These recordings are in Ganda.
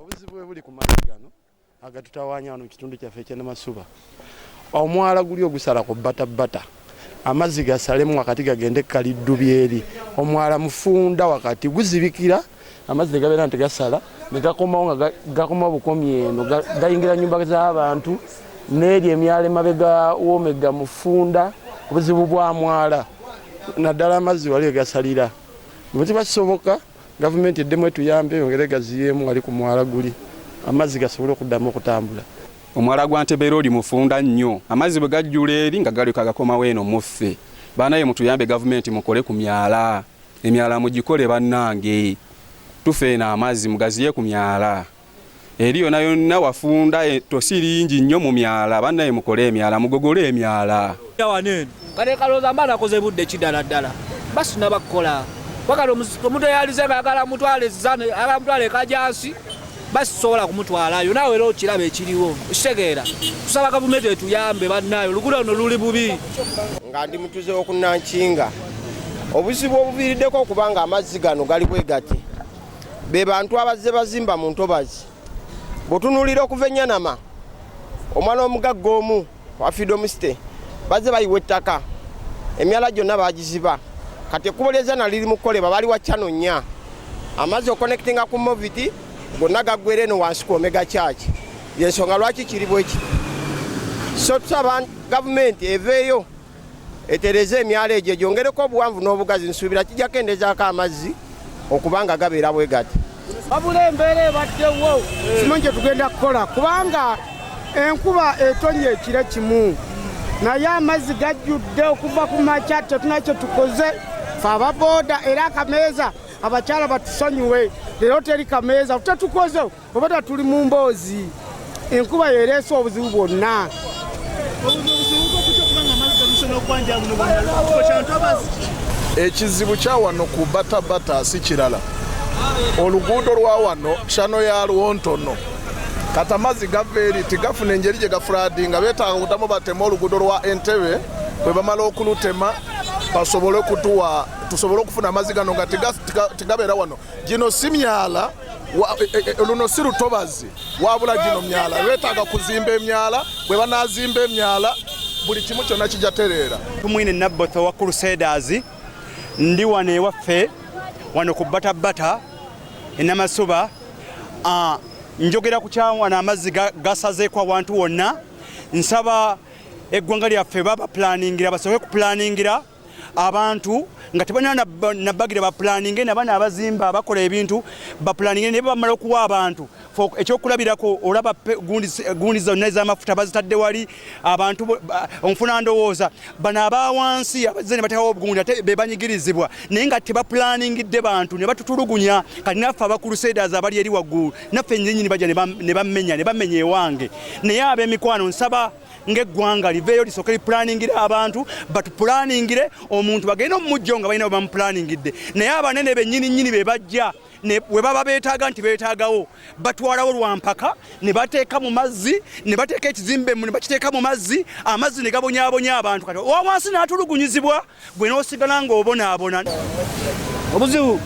obuzibu bwe buli ku mazzi gano agatutawaanya wano mu kitundu kyaffe ekyenamasuba omwala guli ogusala ku batabbata amazzi gasalemu wakati gagende kaliddu byeri omwala mufunda wakati guzibikira amazzi negabeera nti gasala negakomawo nga gakomawo bukomi eno gayingira nyumba z'abantu n'eri emyala emabega womega mufunda obuzibu bwa mwala naddala amazzi wali egasalira bwe kiba kisoboka Gavumenti eddemu etuyambe eyongere egaziyeemu wali ku mwala guli amazzi gasobole okuddamu okutambula. Omwala gwa Nteberoodi mufunda nnyo amazzi bwe gajjula eri nga galyoka gakomawo eno mu ffe. Banaye mutuyambe gavumenti mukole ku myala. Emyala mugikole bannange. Tufa eno amazzi mugaziye ku myala. eri yona yonna wafunda e, tosi lingi nnyo mu myala bannaye mukole emyala mugogole emyala kale kalooza mba nakoze budde kidala ddala basina bakukola wakati omuntu eyalize nga agala mutwale zane agala mutwale ekajansi basisobola kumutwalayo naawe era okiraba ekiriwo okitegeera tusaba gavumenti etuyambe bannaayo oluguudo luno luli bubi nga ndi mutuze wokunankinga obuzibu obuviiriddeko okubanga amazzi gano gali bwegati be bantu abazze bazimba mu ntobazi bwotunuulira okuva enyanama omwana omugagga omu wa freedom state bazze bayiwa ettaka emyala gyonna bagiziba kati ekkubo lyezana liri mu kukolebwa bali wa chano nnya amazzi okonectinga ku moviti gonna gaggwera eno wansi ku omega church yensonga lwaki kiri bwekiti so tusaba gavumenti eveeyo etereze emyalo egyo gyongereko obuwanvu n'obugazi nsuubira kijja kendezaako amazzi okuba nga gabeera bwe gati wabula embeera ebaddewo kimu kye tugenda kukola kubanga enkuba etonye ekire kimu naye amazzi gajjudde okuva ku makya tetuna kye tukoze fe ababooda era akameeza abakyala batusonyiwe leero teri kameeza tetukoze Obata tuli mu mboozi enkuba yereese obuzibu bwonna ekizibu kya wano ku batabata si kirala oluguudo lwa wano kyano yalwo ntono kati amazzi gava eri tigafuna engeri gye gafuradi nga betaaga kutamu batema oluguudo lwa entebe bwe bamala okulutema basobole okutuwa tusobole okufuna amazzi gano nga tigabeera wano Gino si myala e, e, e, luno si lutobazi wabula gino myala lwetaaga kuzimba emyala bwe banaazimba emyala buli kimu kyonna kijja tereera tumwine nabbotho wa crusaders ndi wano ewaffe wano ku batabata enamasuba ah, njogera ku kyawana amazzi gasazeeko awantu wonna nsaba eggwanga lyaffe baba pulaningira basooke kupulaningira abantu nga tebalina nabagira bapulaninge nabana abazimba bakola ebintu bapulaninge naye bamala okuwa abantu ekyokulabirako olaba gundi zonna ezamafuta bazitadde wali abantu onfuna ndowooza bano aba wansi abazze ne batekawo obugundi ate be banyigirizibwa naye nga tebapulaningidde bantu ne batutulugunya kati naffe abakulusedas abali eri waggulu naffe nyinyini baja ne bamenya ne bamenya ewange naye ab'emikwano nsaba ng'eggwanga liveeyo lisooke lipulaaningire abantu batupulaaningire omuntu bagenda omumujjo nga balina bwebamupulaaningidde naye abanene bennyini nnyini be bajja we baba beetaaga nti beetaagawo batwalawo lwampaka ne bateeka mu mazzi ne bateeka ekizimbe mu ne bakiteeka mu mazzi amazzi ne gabonyabonya abantu kati owa wansi n'atulugunyizibwa gwe n'osigala ng'obonaabona. Obuzibu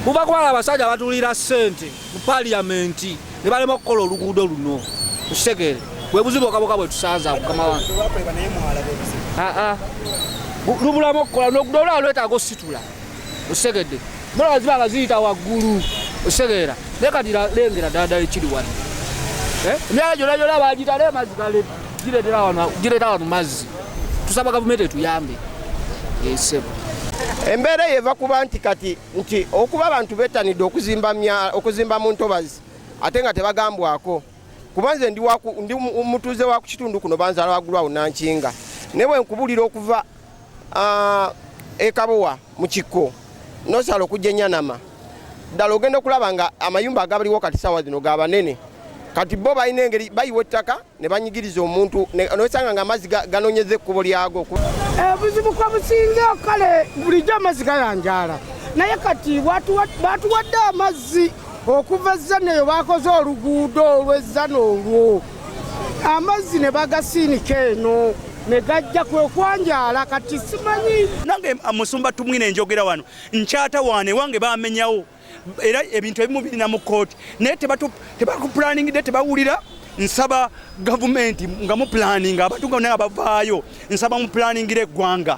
buva kubala abasajja abatulira ssente mu paliyamenti ne balema okukola oluguudo luno ekitegeere bwe buzibu okaboka bwe tusanza mukama wange ah, ah. lubulamu okukola nogudo olwala lwetaaga ositula osegedde mulaba ziba nga ziyita waggulu osegeera naye kati lengera ddala ddala ekiri wano eh? emyala gyona gyona bagitale emazzi galedde gireetera wano mazzi tusaba gavumenti etuyambe esebo eh, embeera eyo eva kuba nti kati nti okuba abantu betanidde okuzimba mu ntobazi ate nga tebagambwako kuba nze ndi mutuuze wa ku kitundu kuno banzala wagulu awo nankinga naye bwenkubulira okuva Ah, ekabowa mu kikko nosala okujja enyanama ddala ogenda okulaba nga amayumba agabaliwo kati saawa zino ga banene kati bo balina engeri bayiwa ettaka ne banyigiriza omuntu nosanga nga amazzi ganonyeza ekkubo lyago obuzibu eh, kwa businga kale bulijjo amazzi gayanjaala naye kati batuwadde amazzi okuva ezzana eyo bakoze oluguudo olw'ezzana olwo amazzi ne bagasiinika eno ne gajja kwe kwanjala kati simanyi nange ah, musumba tumwine enjogera wano nkyata wane wange bamenyawo era ebintu ebimu birina mu kooti naye tebakuplaningide tebawulira nsaba gavumenti nga mupulaninga abantu nga naye abavaayo Nsaba mu planingire eggwanga.